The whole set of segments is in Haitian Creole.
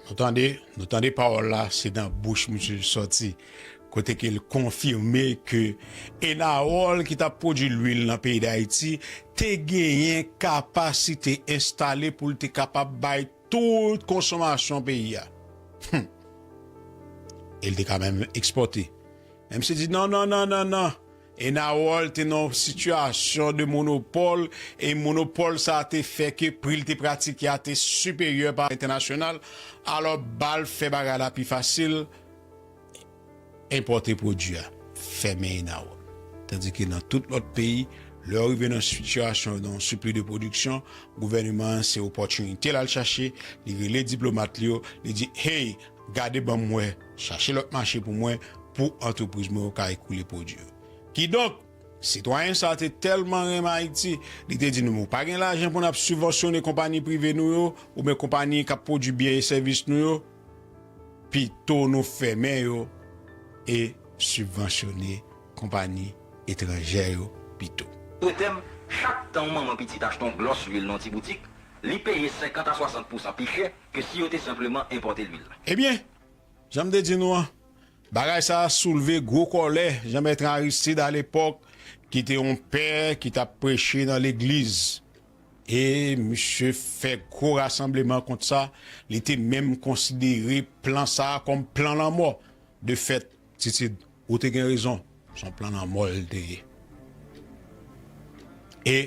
Nou tande, nou tande pawòl la se nan bouch misye li sòti kote ke li konfime ke Enawòl ki tap pwodui lwil nan peyi Dayiti te genyen kapasite enstale pou li te kapab bay tout konsomasyon peyi a. Hum! E li te ka menm ekspòte. Menm si li di non non non non non! Enarol te nan yon sitiyasyon de monopòl e monopòl sa a te fè ke pri li te pratike a te siperyè pa entènasyonal, alò ba l fè bagay la pi fasil, enpòte pwodui a, fèmen Enarol. Tandike nan tout lòt peyi, lè yo rive nan sitiyasyon de yon sipli de pwodiksyon, gouvèneman an se opòtinite l al chache, li rele diplomat li yo, li di, Hey! Gade banm wè, chache lòt mache pou mwen pou antrepriz mwen yo ka ekoule pwodui yo. Kidonk, sitwayen sa te tèlman renmen Ayiti, li te di nou men w pa gen lajan pou n ap sibvansyone konpani prive nou yo oubyen konpani k ap pwodui byen e sèvis nou yo, pito nou fèmen yo e sibvansyone konpani etranjè yo pito. Prete m, chak tan yon manman pitit achte yon glòs lwil nan yon ti boutik, li peye 50 a 60 pousan pi chè ke si yo te senpleman enpòte lwil la. Ebyen, jan m te di nou an, bagay sa a soulve gwo kòlè Jean-Bertrand Aristide alepòk ki te yon pè ki t ap preche nan legliz. E misye fè gwo rasanbleman kont sa, li te menm konsidere plan sa a kòm plan lanmò. De fèt, Titid. Ou te gen rezon son plan lanmò l te ye. E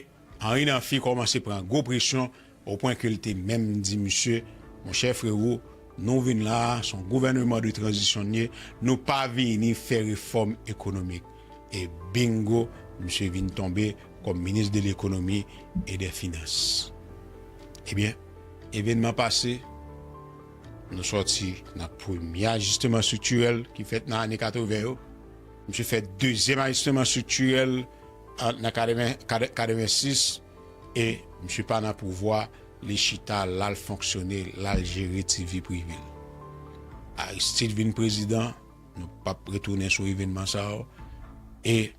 Henri Namphy kòmanse pran gwo presyon o pwen ke l te menm di misye, monchè frero nou vin la a son gouvèneman de tranzisyon n ye nou pa vini fè refòm ekonomik. E bingo misye vin tonbe kòm minis de lekonomi e dè finans. Ebyen evenman pase. Nou sòti nan premye ajisteman estriktirèl ki fèt nan ane 80 yo. Misye fè dezyèm ajisteman estriktirèl an nan 86 e misye pa nan pouvwa, li chita l al fonksyone, l al jere ti vi prive l. Aristide vin prezidan, nou pap retounen sou evènman sa yo e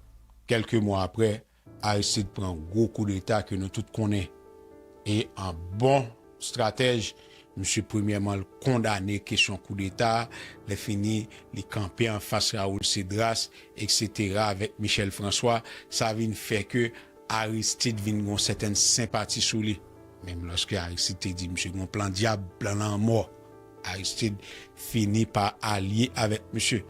kèlke mwa aprè, Aristide pran gwo koudeta ke nou tout konnen e an bon stratèj misye premyèman l kondane kesyon koudeta a lè fini li kanpe anfas Raoul Cédras eksetera avèk Michel François sa vin fè ke Aristide vin gon sètèn senpati sou li. Menm lòske Aristide te di misye gon plan dyab, plan lanmò Aristide fini pa alye avèk misye.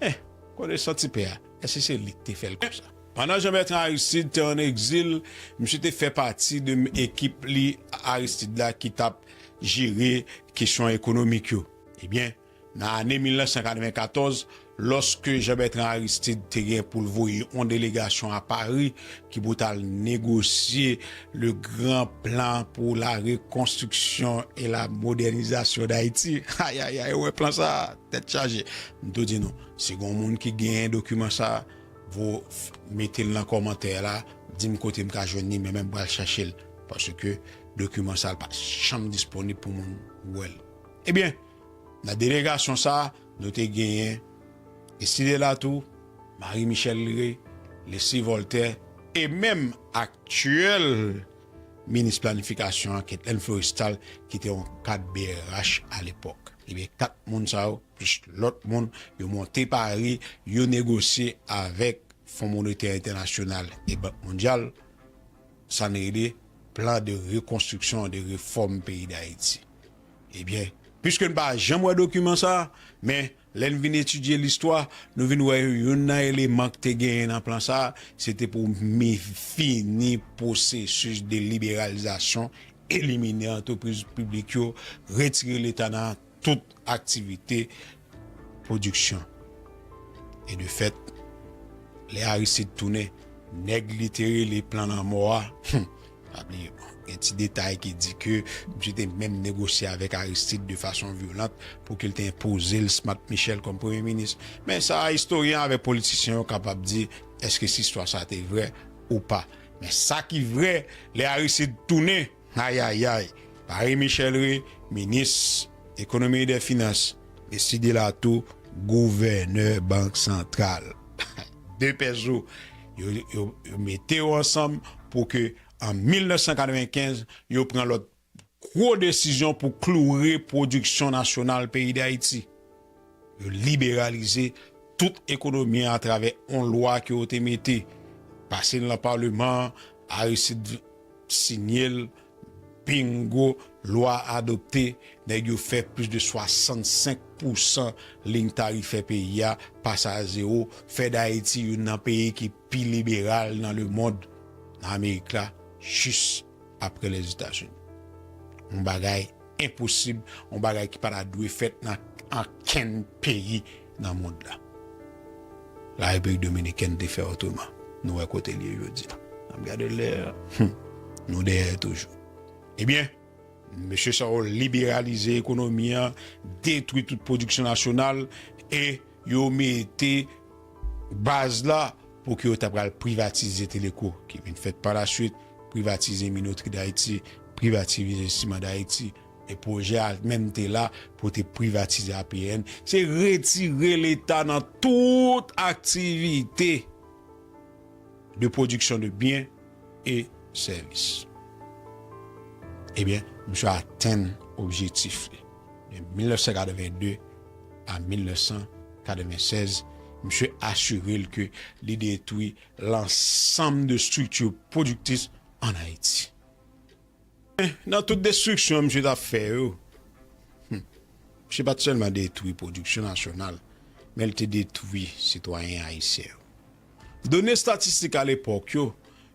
Meh! Konesant ti pè a. Èske se li k te fè l konsa? Pandan Jean Bertrand Aristide te an egzil, misye te fè pati de ekip li Aristide la ki t ap jere kesyon ekonomik yo. Ebyen, nan ane 1994, lòske Jean Bertrand Aristide te gen pou l voye yon delegasyon a Pari ki pou t al negosye le gran plan pou la rekonstriksyon e la modènizasyon d'Ayiti, ayayay, ou wè plan sa a? Tèt chaje. M tou di nou, si gon moun ki genyen dokiman sa, vo mete l nan kòmantè la, di m kote m ka jwenn li, mwen menm m pral chache l, paske dokiman sa l pa janm disponib pou moun wè l. Ebyen, nan delegasyon sa, nou te genyen, Estidè Latou, Mari Michèl Lire, Lesi Vòltè, e menm aktyèl. Minis planifikasyon ak Etèn Florestal ki te yon kad brh alepòk. Ebyen 4 moun sa yo plis lòt moun yo monte pari, yo negosye avèk Fon Monetè Entènasyonal e Bank Mondyal sa n rele Plan de Rekonstriksyon e de Refòm Peyi Dayiti. Ebyen, piske n pa janm wè dokiman sa, men Lè n vin etidye listwa, nou vin wè youn nan eleman k te genyen nan plan sa a, se te pou mi fini pwosesis de liberalizasyon, elimine antrepriz piblik yo, retire Leta nan tout aktivite pwodiksyon. E de fèt, lè Aristide tounen, nèg li te rele plan lanmò a, Pa bliye, gen ti detay ki di ke misye te menm negosye avèk Aristide de fason vyolant pou ke l te enpoze l Smat Michel kòm premye minis. Men sa a istoryen avèk politisyen yo kapab di èske si istwa sa a te vrè ou pa. Men sa ki vrè, lè Aristide tounen, ayayay, Paris Michel ri, minis Ekonomi e dè Finans. Mesye Delatour, gouvènè Bank Santral. 2 pè zo yo mete yo ansanm pou ke an 1995 yo pran lòt gwo desizyon pou kloure pwodiksyon nasyonal peyi Dayiti. Yo liberalize tout ekonomi an atravè yon lwa ke yo te mete, pase l nan Paleman an, Aristide Signel Bingo Lwa adopte, nèg yo fè plis de 65 pousan liy tarifè peyi a pase a zewo, fè Dayiti youn nan peyi ki pi liberal nan lemond, nan Amerik la, jis apre Lèzetazini. Yon bagay enposib, yon bagay ki pa ta dwe fèt nan ankenn peyi. nan mond la. La Repiblik Dominikèn te fè otreman. Nou wè kote l ye jodi a. N ap gade lè a. Hum! Nou dèyè toujou. Ebyen, mesye sa yo liberalize ekonomi an, detwi tout pwodiksyon nasyonal e yo mete baz la pou ke yo ta pral privatize Teleko ki vin fèt pa la swit, privatize Minoterie d'Haiti, privativize Ciment d'Haiti. E pwojè a menm te la pou te privatize APN, se retire leta nan tout aktivite de pwodiksyon de byen e sèvis. Ebyen, misye atenn objetif li. De 1982 a 1996, misye asire l ke li detwi lansanm de estrikti pwodiktis an Ayiti. Men, nan tout destriksyon misye t ap fè yo, hum, misye pa t sèlman detwi pwodiksyon nasyonal, men l te detwi sitwayen ayisyen yo. Done statistik alepòk yo,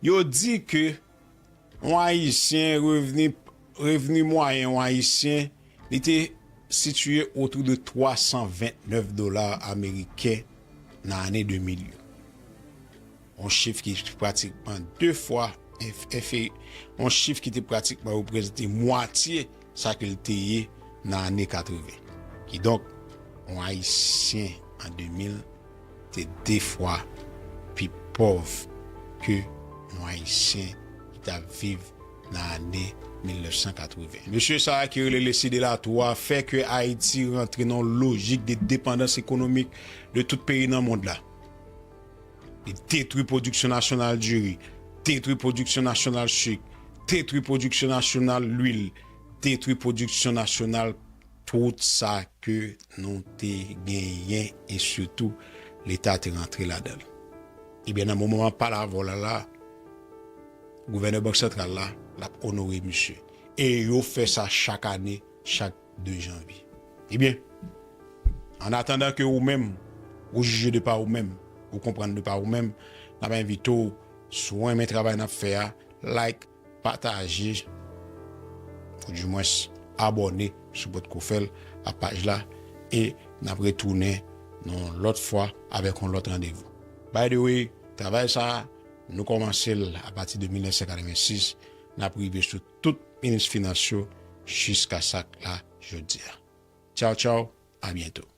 yo di ke yon Ayisyen, revni, revni mwayen yon Ayisyen, li te sitiye otou de 329 dola ameriken nan ane 2000 yo. yon chif ki pratikman de fwa enferi, yon chif ki te pratikman reprezante mwatye sa ke l te ye nan ane 80. Kidonk, yon Ayisyen an 2000 te de fwa pi pòv ke yon Ayisyen ki t ap viv nan ane 1980. Mesye sa a ki rele Leslie Delatour a fè ke Ayiti rantre nan yon lojik de depandans ekonomik de tout peyi nan mond la. Li detwi pwodiksyon nasyonal diri, detwi pwodiksyon nasyonal sik, detwi pwodiksyon nasyonal lwil, detwi pwodiksyon nasyonal tout sa ke nou te genyen e sitou Leta te rantre ladan l. Ebyen nan moman map pale avè w la la, gouvènè Bank Santral la, lap onore misye. E yo fè sa chak ane, chak. 2 janvye. Ebyen, an atandan ke ou menm ou jije de pa ou menm, ou konprann de pa ou menm, n ap envite w, si w renmen travay n ap fè a, like, pataje, ou di mwens abòne si w pa t ko fè l a paj la, e n ap retounen yon lòt fwa avèk yon lòt randevou. By the way, travay sa a, nou kòmanse l apati de 1986, n ap rive sou. tout minis finans yo jiska sak la jodia tchaw tchaw a byento.